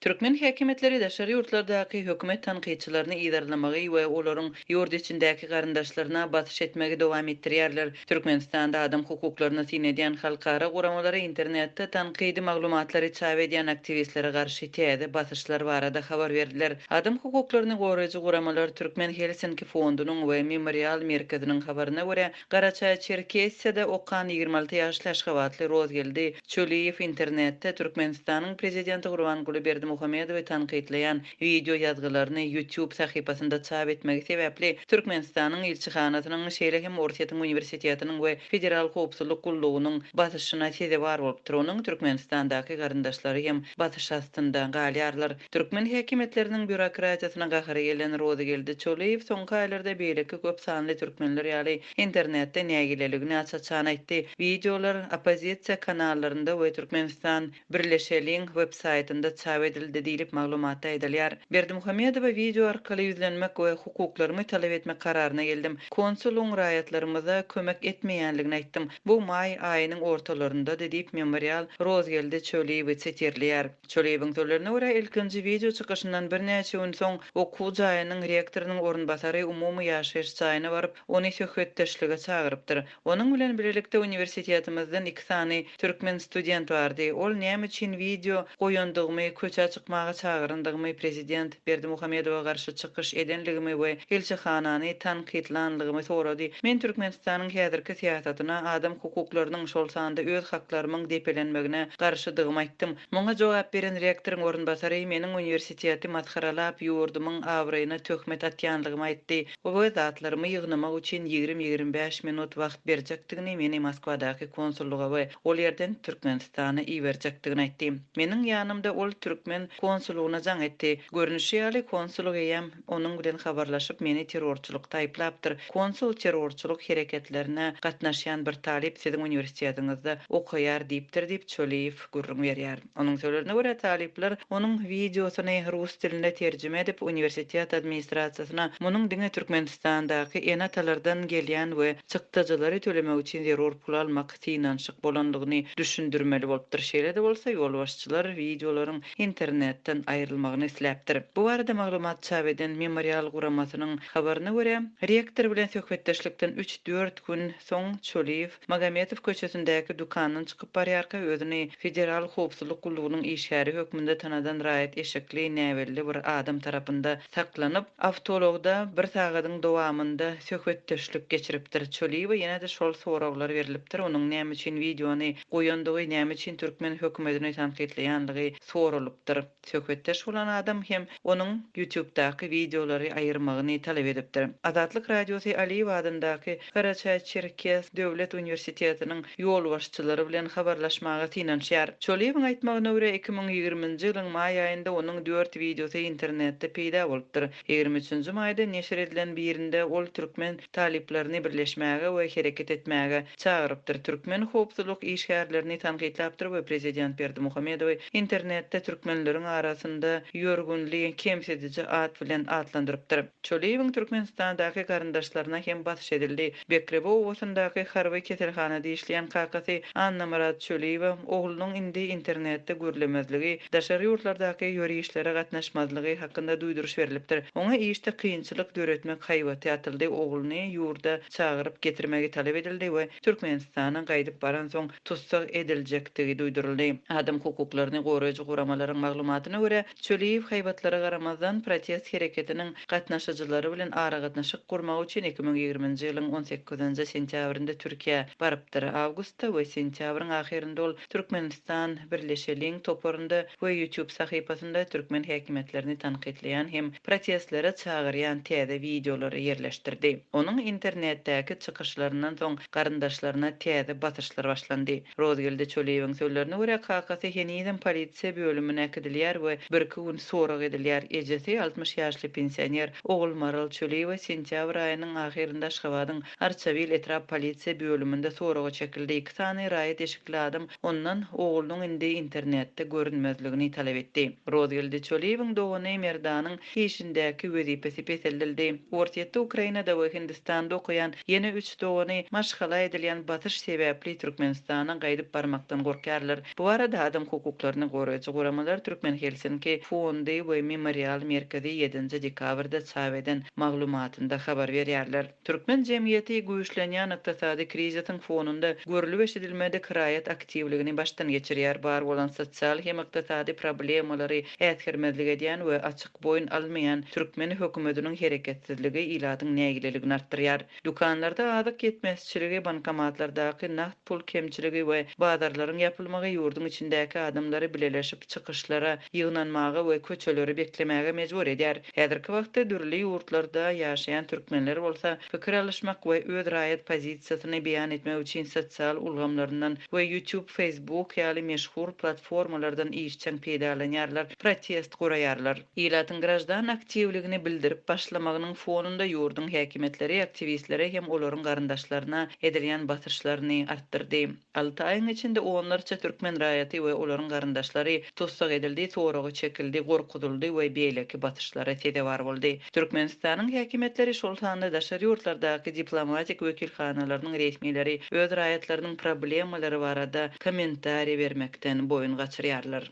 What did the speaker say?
Türkmen häkimiýetleri daşary ýurtlardaky hökümet tankytçylaryny yzarlamagy we olaryň ýurt içindäki garyndaşlaryna basyş etmegi dowam etdirýärler. Türkmenistanda adam hukuklaryny syn edýän halkara guramalary internetde tankydy maglumatlary çap edýän aktiwistlere garşy täze basyşlar barada habar berdiler. Adam hukuklaryny goraýjy guramalar Türkmen Helsinki fondunyň we Memorial merkeziniň habaryna görä, Garaçaýçerkessiýada okan ýigrimi alty ýaşly aşgabatly Rozgeldi Çöliýew internetde Türkmenistanyň prezidenti Gurbanguly Berdimuhamedowy tankytlaýan wideo ýazgylaryny YouTube sahypasynda çap etmegi sebäpli Türkmenistanyň ilçihanasynyň, şeýle hem Orsýetiň uniwersitetiniň we Federal howpsuzlyk gullugynyň basyşyna sezewar bolupdyr, onuň Türkmenistandaky garyndaşlary hem basyş astynda galýarlar. Türkmen häkimiýetleriniň býurokratiýasyna gahary gelen Rozygeldi Çöliýew soňky aýlarda beýleki köp sanly türkmenler ýaly internetde nägileligini aç-açan aýtdy. Wideolar oppozisiýa kanallarynda we Türkmenistan, birleşeliň! websaýtynda çap edildi diýlip maglumatda aýdylýar. Berdimuhamedowa wideo arkaly ýüzlenmek we hukuklarymy talap etmek kararyna geldim. Konsulyň raýatlarymyza kömek etmeýänligini aýtdym. Bu maý aýynyň ortalaryndady diýip Memorial Rozgeldi Çöliýewi sitirleýär. Çöreýewiň sözlerine görä, ilkinji wideo çykyşyndan birnäçe gün soň, okuw jaýynyň rektorynyň orunbasary umumy ýaşaýyş jaýyna baryp, ony söhbetdeşlige çagyrypdyr. Onuň bilen birlikde uniwersitetimizden iki sany türkmen student bardy. Ol näme üçin wideo goýandygymy, köçä çykmaga çagyrandygymy prezident. Berdimuhamedowa garşy çykyş edenligimi we Elçihanany tankytlanlygymy sorady. Men Türkmenistanyň häzirki syýasatyna, adam hukuklarynyň, şol sanda öz haklarymyň depelenmegine garşydygymy aýtdym. Muňa jogap beren rektoryň orunbasary meniň uniwersiteti masgaralap, ýurdumyň abraýyna töhmet atýanlygymy aýtdy we zatlarymy ýygnamak üçin ýigrimi-ýigrimi bäş minut wagt berjekdigini meni Moskwadaky konsullyga we ol ýerden Türkmen Sany iberjekdigini aýtdy. Meniň ýanymda ol türkmen konsullygyna jaň etdi. Görnüşi ýaly, konsullyk eýýäm onuň bilen habarlaşyp, meni terrorçylykda aýyplapdyr. Konsul terrorçylyk hereketlerine gatnaşýan bir talyp siziň uniwersitetiňizde okaýar diýipdir diýip, Çöliýew gürrüň berýär. Onuň sözlerine görä, talyplar onuň wideosyny rus diline terjime edip, uniwersitet administrasiýasyna munuň diňe Türkmenistandaky ene-atalardan gelýän we çykdajylary tölemek üçin zerur pul almak synanyşyk bolandygyny düşündirmeli bolupdyr. Şeýle-de bolsa, ýolbaşçylar wideolaryň internetden aýrylmagyny isläpdir. Bu barada maglumat çap eden Memorial guramasynyň habaryna görä, rektor bilen söhbetdeşlikden üç-dört gün soň Çöliýew Magometow köçesindäki dükandan çykyp barýarka özüni Federal howpsuzlyk gullugynyň işgäri hökmünde tanadan raýat eşekli näbelli bir adam tarapynda saklanyp, awtoulagda bir sagadyň dowamynda söhbetdeşlik geçiripdir. Çöliýewe ýene-de şol soraglar berlipdir, onuň näme üçin wideony goýandygy, näme üçin türkmen hökümetini tankytlaýandygy soralypdyr. Söhbetdeş bolan adam hem onuň Ýutubdaky wideolary aýyrmagyny talap edipdir. Azatlyk Radiosy Aliýew adyndaky Garaçaý-Çerkes döwlet uniwersitetiniň ýolbaşçylary bilen habarlaşmaga synanyşýar. Çolýewiň aýtmagyna görä, iki müň ýigriminji ýylyň maý aýynda onuň dört wideosy internetde peýda bolupdyr. Ýigrimi üçünji maýda neşir edilen birinde ol türkmen talyplaryny birleşmäge we hereket etmäge çagyrypdyr, türkmen howpsuzlyk işgärlerini tankytlapdyr we prezident Berdimuhamedowy internetde türkmenleriň arasynda ýörgünli kemsidiji at bilen atlandyrypdyr. Çöliýewiň Türkmenistandaky garyndaşlaryna hem basyş edildi. Bekrebi obasyndaky harby keselhanada işleýän kakasy Annamyrat Çöliýewe oglunyň indi internetde gürlemezligi, daşary ýurtlardaky ýörişlere gatnaşmazlygy hakynda duýduryş berlipdir. Oňa işde kynçylyk döretmek haýbaty atyldy, ogluny ýurda çagyryp getirmegi talap edildi we Türkmenistana gaýdyp baransoň tussag ediljekdigi duýduryldy. Adam hukuklaryny goraýjy guramalaryň maglumatyna görä, Çöliýew haýbatlara garamazdan, protest hereketiniň gatnaşyjylary bilen aragatnaşyk gurmak üçin iki müň ýigrimi nji ýylyň on sekizinji sentýabrynda Türkiýä barypdyr. Awgustda we sentýabryň ahyrynda ol Türkmenistan, birleşeliň! toparynda we YouTube sahypasynda türkmen häkimiýetlerini tankytlaýan hem protestlere çagyrýan täze wideolary ýerleşdirdi. Onuň internetdäki çykyşlaryndan soň garyndaşlaryna täze basyşlar başlandy. Rozgeldi Çöliýewiň sözlerine görä, kakasy henizem polisiýa bölümine äkidilýär we birki gün sorag edilýär. Ejesi, altmyş ýaşly pensioner Ogulmaral Çöliýewa sentýabr aýynyň ahyrynda Aşgabadyň Arçabil etrap polisiýa bölüminde soraga çekildi. Iki sany raýat eşikli adam ondan oglunyň indi internetde görünmezligini talap etdi. Rozgeldi Çöliýewiň dogany Merdanyň işindäki wezipesi peseldildi. Orsýetde, Ukrainada we Hindistanda okaýan ýene üç dogany maşgala edilýän basyş sebäpli Türkmenistana gaýdyp barmakdan gorkýarlar. Bu barada adam hukuklaryny goraýjy guramalar Türkmen Helsinki fondy we Memorial merkezi ýedinji dekabrda çap eden maglumatynda habar berýärler. Türkmen jemgyýeti güýçlenýän ykdysady krizisiň fonunda görlüp-eşidilmedik raýat aktiwligini başdan geçirýär, bar bolan sosial hem ykdysady problemalary äsgermezlik edýän we açyk boýun almaýan türkmen hökümetiniň hereketsizligi ilatyň nägileligini artdyrýar. Dükanlarda azyk ýetmezçiligi, bankomatlardaky nagt, Pul kemçiligi we bazarlaryň ýapylmagy ýurduň içindäki adamlary bileleşip çykyşlara, ýygnanmaga we köçeleri beklemäge mejbur edýär. Häzirki wagtda dürli ýurtlarda ýaşaýan türkmenler bolsa pikir alyşmak we öz raýat pozisiýasyny beýan etmek üçin sosial ulgamlaryndan we YouTube, Facebook ýaly meşhur platformalardan işjeň peýdalanýarlar. protest guraýarlar. Ilatyň graždan aktiwligini bildirip başlamagynyň fonunda ýurduň häkimiýetleri aktiwistlere hem olaryň garyndaşlaryna edilýän basyşlaryny artdyrdy. Alty aýyň içinde onlarça türkmen raýaty we olaryň garyndaşlary tussag edildi, soraga çekildi, gorkuzyldy we beýleki basyşlara sezewar boldy. Türkmenistanyň häkimiýetleri, şol sanda daşary ýurtlardaky diplomatik wekilhanalarynyň resmileri öz raýatlarynyň problemalary barada kommentariýa bermekden boýun gaçyrýarlar.